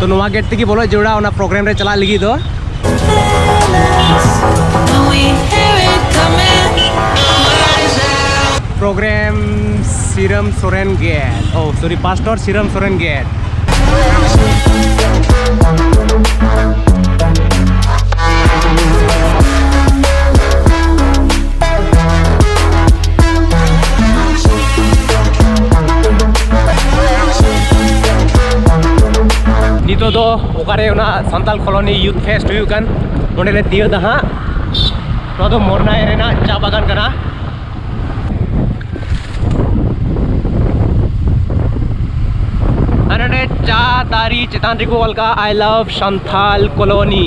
ᱛᱚ ᱱᱚᱣᱟ ᱜᱮᱴ ᱛᱮᱜᱮ ᱵᱚᱞᱚᱜ ᱡᱟᱹᱨᱩᱲᱟ ᱚᱱᱟ ᱯᱨᱳᱜᱨᱟᱢ ᱨᱮ ᱪᱟᱞᱟᱜ ᱞᱟᱹᱜᱤᱫ ᱫᱚ ᱯᱨᱳᱜᱨᱟᱢ ᱥᱤᱨᱟᱢ ᱥᱚᱨᱮᱱ ᱜᱮᱴ ᱳ ᱥᱚᱨᱤ ᱯᱟᱥᱴᱚᱨ ᱥᱤᱨᱟᱢ ᱥᱚᱨᱮᱱ ᱜᱮᱴ ᱱᱤᱛᱚᱜ ᱫᱚ ᱚᱠᱟᱨᱮ ᱚᱱᱟ ᱥᱟᱱᱛᱟᱞ ᱠᱚᱞᱚᱱᱤ ᱭᱩᱛᱷ ᱯᱷᱮᱥᱴ ᱦᱩᱭᱩᱜ ᱠᱟᱱ ᱚᱸᱰᱮ ᱞᱮ ᱛᱤᱭᱳᱜ ᱫᱟ ᱦᱟᱸᱜ ᱱᱚᱣᱟ ᱫᱚ ᱢᱚᱨᱱᱟᱭ ᱨᱮᱱᱟᱜ ᱪᱟ ᱵᱟᱜᱟᱱ ᱠᱟᱱᱟ ᱟᱨ ᱚᱸᱰᱮ ᱪᱟ ᱫᱟᱨᱮ ᱪᱮᱛᱟᱱ ᱨᱮᱠᱚ ᱚᱞ ᱠᱟᱜᱼᱟ ᱟᱭ ᱞᱟᱵᱷ ᱥᱟᱱᱛᱷᱟᱞ ᱠᱚᱞᱚᱱᱤ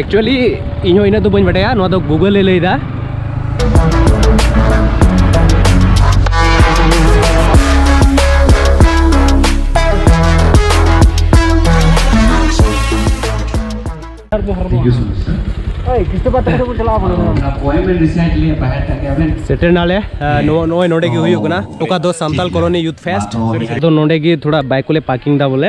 ᱮᱠᱪᱩᱭᱮᱞᱤ ᱤᱧ ᱦᱚᱸ ᱤᱱᱟᱹᱜ ᱫᱚ ᱵᱟᱹᱧ ᱵᱟᱰᱟᱭᱟ ᱱᱚᱣᱟ ᱫᱚ ᱜᱩᱜᱚᱞ ᱮ ᱞᱟᱹᱭᱫᱟ ᱥᱮᱴᱮᱨ ᱱᱟᱞᱮ ᱱᱚᱜᱼᱚᱭ ᱱᱚᱰᱮ ᱜᱮ ᱦᱩᱭᱩᱜ ᱠᱟᱱᱟ ᱚᱠᱟ ᱫᱚ ᱥᱟᱱᱛᱟᱞ ᱠᱚᱞᱚᱱᱤ ᱭᱩᱛᱷ ᱯᱷᱮᱥᱴ ᱟᱫᱚ ᱱᱚᱰᱮ ᱜᱮ ᱛᱷᱚᱲᱟ ᱵᱟᱭᱤᱠ ᱠᱚᱞᱮ ᱯᱟᱨᱠᱤᱝ ᱫᱟ ᱵᱚᱞᱮ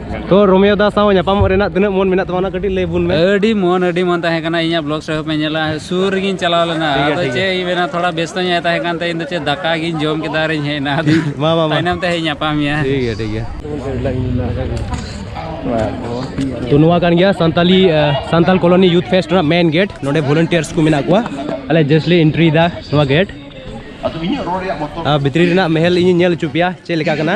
ᱛᱚ ᱨᱳᱢᱤᱭᱳ ᱫᱟ ᱥᱟᱶ ᱧᱟᱯᱟᱢᱚᱜ ᱨᱮᱱᱟᱜ ᱛᱤᱱᱟᱹᱜ ᱢᱚᱱ ᱢᱮᱱᱟᱜ ᱛᱟᱢᱟ ᱚᱱᱟ ᱠᱟᱹᱴᱤᱡ ᱞᱟᱹᱭ ᱵᱚᱱ ᱢᱮ ᱟᱹᱰᱤ ᱢᱚᱱ ᱟᱹᱰᱤ ᱢᱚᱱ ᱛᱟᱦᱮᱸ ᱠᱟᱱᱟ ᱤᱧᱟᱹᱜ ᱵᱞᱚᱜ ᱥᱮ ᱯᱮ ᱧᱮᱞᱟ ᱥᱩᱨ ᱨᱮᱜᱤᱧ ᱪᱟᱞᱟᱣ ᱞᱮᱱᱟ ᱟᱫᱚ ᱪᱮᱫ ᱤᱧ ᱢᱮᱱᱟ ᱛᱷᱚᱲᱟ ᱵᱮᱥᱛᱚ ᱧᱚᱜ ᱛᱟᱦᱮᱸ ᱠᱟᱱ ᱛᱮ ᱤᱧ ᱫᱚ ᱪᱮᱫ ᱫᱟᱠᱟ ᱜᱤᱧ ᱡᱚᱢ ᱠᱮᱫᱟ ᱟᱨᱤᱧ ᱦᱮᱡ ᱮᱱᱟ ᱟᱫᱚ ᱢᱟ ᱢᱟ ᱛᱟᱭᱱᱚᱢ ᱛᱮ ᱦᱮᱡ ᱧᱟᱯᱟᱢ ᱢᱮᱭᱟ ᱴᱷᱤᱠ ᱜᱮᱭᱟ ᱴᱷᱤᱠ ᱜᱮᱭᱟ ᱛᱚ ᱱᱚᱣᱟ ᱠᱟᱱ ᱜᱮᱭᱟ Santali Santal colony youth fest ᱨᱮᱱᱟᱜ ᱢᱮᱱ ᱜᱮᱴ ᱱᱚᱰᱮ ᱵᱷᱚᱞᱩᱱᱴᱤᱭᱟᱨᱥ ᱠᱚ ᱢᱮᱱᱟᱜ ᱠᱚᱣᱟ ᱟᱞᱮ ᱡᱟᱥᱴᱞᱤ ᱮᱱᱴᱨᱤ ᱫᱟ ᱱᱚᱣᱟ ᱜᱮᱴ ᱵᱷᱤᱛᱨᱤ ᱨᱮᱱᱟᱜ ᱢᱮᱦᱮᱞ ᱤᱧ ᱧᱮᱞ ᱦᱚᱪᱚ ᱯᱮᱭᱟ ᱪᱮᱫ ᱞᱮᱠᱟ ᱠᱟᱱᱟ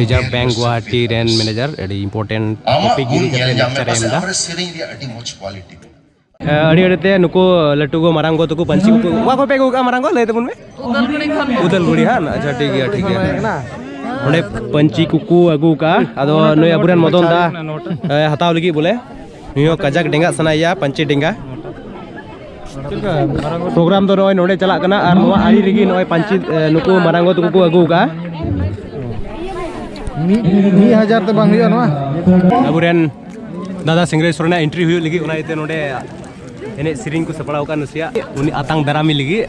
ᱨᱤᱡᱟᱨᱵᱷ ᱵᱮᱝᱠ ᱜᱩᱣᱟᱦᱟᱴᱤ ᱨᱮᱱ ᱢᱮᱱᱮᱡᱟᱨ ᱟᱹᱰᱤ ᱤᱢᱯᱚᱨᱴᱮᱱᱴ ᱴᱚᱯᱤᱠ ᱤᱫᱤ ᱠᱟᱛᱮ ᱞᱮᱠᱪᱟᱨ ᱮ ᱮᱢ ᱮᱫᱟ ᱟᱹᱰᱤ ᱟᱹᱰᱤ ᱛᱮ ᱱᱩᱠᱩ ᱞᱟᱹᱴᱩ ᱜᱚ ᱢᱟᱨᱟᱝ ᱜᱚ ᱛᱟᱠᱚ ᱯᱟᱹᱧᱪᱤ ᱠᱚ ᱚᱠᱟ ᱠᱷᱚᱱ ᱯᱮ ᱟᱹᱜᱩ ᱠᱟᱜᱼᱟ ᱢᱟᱨᱟᱝ ᱜᱚ ᱞᱟᱹᱭ ᱛᱟᱵᱚᱱ ᱢᱮ ᱩᱫᱟᱞᱜᱩᱲᱤ ᱦᱟᱸ ᱟᱪᱪᱷᱟ ᱴᱷᱤᱠ ᱜᱮᱭᱟ ᱴᱷᱤᱠ ᱜᱮᱭᱟ ᱚᱸᱰᱮ ᱯᱟᱹᱧᱪᱤ ᱠᱚᱠᱚ ᱟᱹᱜᱩ ᱠᱟᱜᱼᱟ ᱟᱫᱚ ᱱᱩᱭ ᱟᱵᱚᱨᱮᱱ ᱢᱚᱫᱚᱱ ᱫᱟ ᱦᱟᱛᱟᱣ ᱞᱟᱹᱜᱤᱫ ᱵᱚᱞᱮ ᱱᱩᱭ ᱦᱚᱸ ᱠᱟᱡᱟᱠ ᱰᱮᱸᱜᱟᱜ ᱥᱟᱱᱟᱭᱮᱭᱟ ᱯᱟᱧᱪᱤ ᱰᱮᱸᱜᱟ ᱯᱨᱳᱜᱨᱟᱢ ᱫᱚ ᱱᱚᱜᱼᱚᱭ ᱱᱚᱰᱮ ᱪᱟᱞᱟᱜ ᱠᱟᱱᱟ ᱟᱨ ᱱᱚᱣᱟ ᱟᱲᱮ ᱨᱮᱜᱮ ᱱᱚᱜᱼᱚᱭ ᱯᱟᱧᱪᱤ ᱱᱩᱠᱩ ᱢᱟᱨᱟᱝᱜᱚ ᱛᱟᱠᱚ ᱠᱚ ᱟᱹᱜᱩ ᱠᱟᱜᱼᱟ ᱢᱤᱫ ᱦᱟᱡᱟᱨ ᱛᱮ ᱵᱟᱝ ᱦᱩᱭᱩᱜᱼᱟ ᱱᱚᱣᱟ ᱟᱵᱚᱨᱮᱱ ᱫᱟᱫᱟ ᱥᱤᱝᱨᱟᱹᱭ ᱥᱚᱨᱮᱱᱟᱜ ᱮᱱᱴᱨᱤ ᱦᱩᱭᱩᱜ ᱞᱟᱹᱜᱤᱫ ᱚᱱᱟ ᱤᱭᱟᱹᱛᱮ ᱱᱚᱰᱮ ᱮᱱᱮᱡ ᱥᱮᱨᱮᱧ ᱠᱚ ᱥᱟᱯᱲᱟᱣ ᱟᱠᱟᱫ ᱱᱟᱥᱮᱭᱟᱜ ᱩᱱᱤ ᱟᱛᱟᱝ ᱫᱟᱨᱟᱢᱤ ᱞᱟᱹᱜᱤᱫ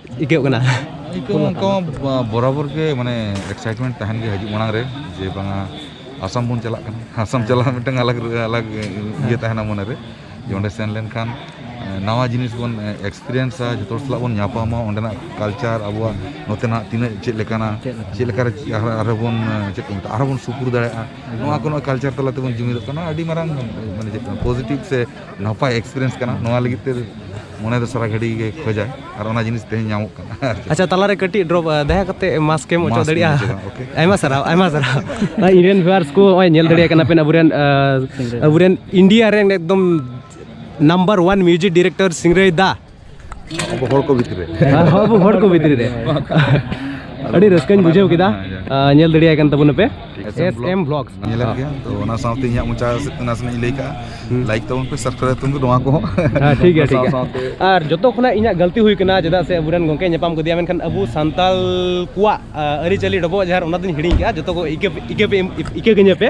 ᱟᱹᱭᱠᱟᱹᱜ ᱠᱟᱱᱟ ᱟᱹᱭᱠᱟᱹᱣ ᱚᱱᱠᱟ ᱵᱚᱨᱟᱵᱚᱨ ᱜᱮ ᱢᱟᱱᱮ ᱮᱠᱥᱟᱭᱤᱴᱢᱮᱱᱴ ᱛᱟᱦᱮᱱ ᱜᱮ ᱦᱤᱡᱩᱜ ᱢᱟᱲᱟᱝ ᱨᱮ ᱡᱮ ᱵᱟᱝᱟ ᱟᱥᱟᱢ ᱵᱚᱱ ᱪᱟᱞᱟᱜ ᱠᱟᱱᱟ ᱟᱥᱟᱢ ᱪᱟᱞᱟᱜ ᱢᱤᱫᱴᱟᱝ ᱟᱞᱟᱜᱽ ᱟᱞᱟᱜᱽ ᱤᱭᱟᱹ ᱛᱟᱦᱮᱱᱟ ᱢᱚᱱᱮ ᱨᱮ ᱡᱮ ᱚᱸᱰᱮ ᱥᱮᱱ ᱞᱮᱱᱠᱷᱟᱱ ᱱᱟᱣᱟ ᱡᱤᱱᱤᱥ ᱵᱚᱱ ᱮᱠᱥᱯᱮᱨᱤᱭᱮᱱᱥᱟ ᱡᱚᱛᱚ ᱦᱚᱲ ᱥᱟᱞᱟᱜ ᱵᱚᱱ ᱧᱟᱯᱟᱢᱟ ᱚᱸᱰᱮᱱᱟᱜ ᱠᱟᱞᱪᱟᱨ ᱟᱵᱚᱣᱟᱜ ᱱᱚᱛᱮᱱᱟᱜ ᱛᱤᱱᱟᱹᱜ ᱪᱮᱫ ᱞᱮᱠᱟᱱᱟ ᱪᱮᱫ ᱞᱮᱠᱟᱨᱮ ᱟᱨᱦᱚᱸ ᱵᱚᱱ ᱪᱮᱫ ᱠᱚ ᱢᱮᱛᱟᱜᱼᱟ ᱟᱨᱦᱚᱸ ᱵᱚᱱ ᱥᱩᱯᱩᱨ ᱫᱟᱲᱮᱭᱟᱜᱼᱟ ᱱᱚᱣᱟ ᱠᱚ ᱱᱚᱜᱼᱚᱭ ᱠᱟᱞᱪᱟᱨ ᱛᱟᱞᱟ ᱛᱮᱵᱚᱱ ᱡᱩᱢᱤᱫᱚᱜ ᱠᱟᱱᱟ ᱟᱹᱰᱤ ᱢᱟᱨᱟᱝ ᱢᱟᱱᱮ ᱪᱮᱫ ᱠᱚ ᱢᱮᱛᱟᱜᱼᱟ ᱯᱚᱡᱮᱴᱤᱵᱽ ᱥᱮ ᱱᱟᱯᱟᱭ ᱮᱠᱥᱯᱤᱨᱤᱭᱮᱱᱥ ᱠᱟᱱᱟ ᱱᱚᱣᱟ ᱞᱟᱹᱜᱤᱫ ᱛᱮ ᱢᱚᱱᱮ ᱫᱚ ᱥᱟᱨᱟ ᱜᱷᱟᱹᱲᱤ ᱜᱮ ᱠᱷᱚᱡᱟᱭ ᱟᱨ ᱚᱱᱟ ᱡᱤᱱᱤᱥ ᱛᱮᱦᱮᱧ ᱧᱟᱢᱚᱜ ᱠᱟᱱᱟ ᱟᱪᱪᱷᱟ ᱛᱟᱞᱟᱨᱮ ᱠᱟᱹᱴᱤᱡ ᱰᱨᱚᱯ ᱫᱟᱭᱟ ᱠᱟᱛᱮ ᱢᱟᱥᱠ ᱮᱢ ᱚᱪᱚ ᱫᱟᱲᱮᱭᱟᱜᱼᱟ ᱟᱭᱢᱟ ᱥᱟᱨᱦᱟᱣ ᱟᱭᱢᱟ ᱥᱟᱨᱦᱟᱣ ᱤᱨᱮᱱ ᱵᱷᱤᱣᱟᱨᱥ ᱠᱚ ᱱᱚᱜᱼᱚᱭ ᱧᱮᱞ ᱫᱟᱲᱮᱭᱟᱜ ᱠᱟᱱᱟ ᱯᱮ ᱟᱵᱚᱨᱮᱱ ᱟᱵᱚᱨᱮᱱ ᱤᱱᱰᱤᱭᱟ ᱨᱮᱱ ᱮᱠᱫᱚᱢ ᱱᱟᱢᱵᱟᱨ ᱚᱣᱟᱱ ᱢᱤᱣᱡᱤᱠ ᱰᱤᱨᱮᱠᱴᱚᱨ ᱥᱤᱝᱨᱟᱹᱭ ᱫᱟ ᱦᱚᱲ ᱠᱚ ᱵᱷᱤᱛᱨᱤ ᱨᱮ ᱟᱵᱚ ᱦᱚᱲ ᱠᱚ ᱵᱷᱤᱛᱨᱤ ᱨᱮ ᱟᱹᱰᱤ ᱨᱟᱹᱥᱠᱟᱹᱧ ᱵᱩᱡᱷᱟᱹᱣ ᱠᱮᱫᱟ ᱧᱮᱞ ᱫᱟᱲᱮᱭᱟᱭ ᱠᱟᱱ ᱛᱟᱵᱚᱱᱟ ᱯᱮ ᱮᱥ ᱮᱢ ᱵᱞᱚᱜᱥ ᱧᱮᱞᱮᱫ ᱜᱮᱭᱟ ᱛᱚ ᱚᱱᱟ ᱥᱟᱶᱛᱮ ᱤᱧᱟᱹᱜ ᱢᱚᱪᱟ ᱥᱮᱫ ᱛᱮ ᱱᱟᱥᱮᱱᱟᱜ ᱤᱧ ᱞᱟᱹᱭ ᱠᱟᱜᱼᱟ ᱞᱟᱭᱤᱠ ᱛᱟᱵᱚᱱ ᱯᱮ ᱥᱟᱵᱥᱠᱨᱟᱭᱤᱵ ᱛᱟᱵᱚᱱ ᱱᱚᱣᱟ ᱠᱚᱦᱚᱸ ᱴᱷᱤᱠ ᱜᱮᱭᱟ ᱴᱷᱤᱠ ᱜᱮᱭᱟ ᱟᱨ ᱡᱚᱛᱚ ᱠᱷᱚᱱᱟᱜ ᱤᱧᱟᱹᱜ ᱜᱟᱹᱞᱛᱤ ᱦᱩᱭ ᱠᱟᱱᱟ ᱪᱮᱫᱟᱜ ᱥᱮ ᱟᱵᱚᱨᱮᱱ ᱜᱚᱝᱠᱮ ᱧᱟᱯᱟᱢ ᱠᱮᱫᱮᱭᱟ ᱢᱮᱱᱠᱷᱟᱱ ᱟᱵᱚ ᱥᱟᱱᱛᱟᱞ ᱠᱚᱣᱟᱜ ᱟᱹᱨᱤᱪᱟᱹᱞᱤ ᱰᱚᱵᱚᱜ ᱡᱟᱦᱟᱨ ᱚᱱᱟ ᱫᱚᱧ ᱦᱤᱲᱤᱧ ᱠᱟᱜᱼᱟ ᱡᱚᱛᱚ ᱠᱚ ᱤᱠᱟᱹ ᱤᱠᱟᱹ ᱤᱠᱟᱹ ᱠᱟᱹᱧᱟᱹ ᱯᱮ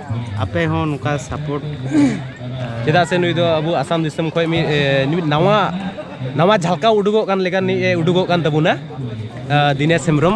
ᱟᱯᱮ ᱦᱚᱸ ᱱᱚᱝᱠᱟ ᱥᱟᱯᱳᱨᱴ ᱪᱮᱫᱟᱜ ᱥᱮ ᱱᱩᱭ ᱫᱚ ᱟᱵᱚ ᱟᱥᱟᱢ ᱫᱤᱥᱚᱢ ᱠᱷᱚᱱ ᱢᱤᱫ ᱢᱤᱫ ᱱᱟᱣᱟ ᱱᱟᱣᱟ ᱡᱷᱟᱞᱠᱟᱣ ᱩᱰᱩᱠᱚᱜ ᱠᱟᱱ ᱞᱮᱠᱟ ᱱᱤᱡ ᱮ ᱩᱰᱩᱠᱚᱜ ᱠᱟᱱ ᱛᱟᱵᱚᱱᱟ ᱫᱤᱱᱮᱥ ᱦᱮᱢᱵᱨᱚᱢ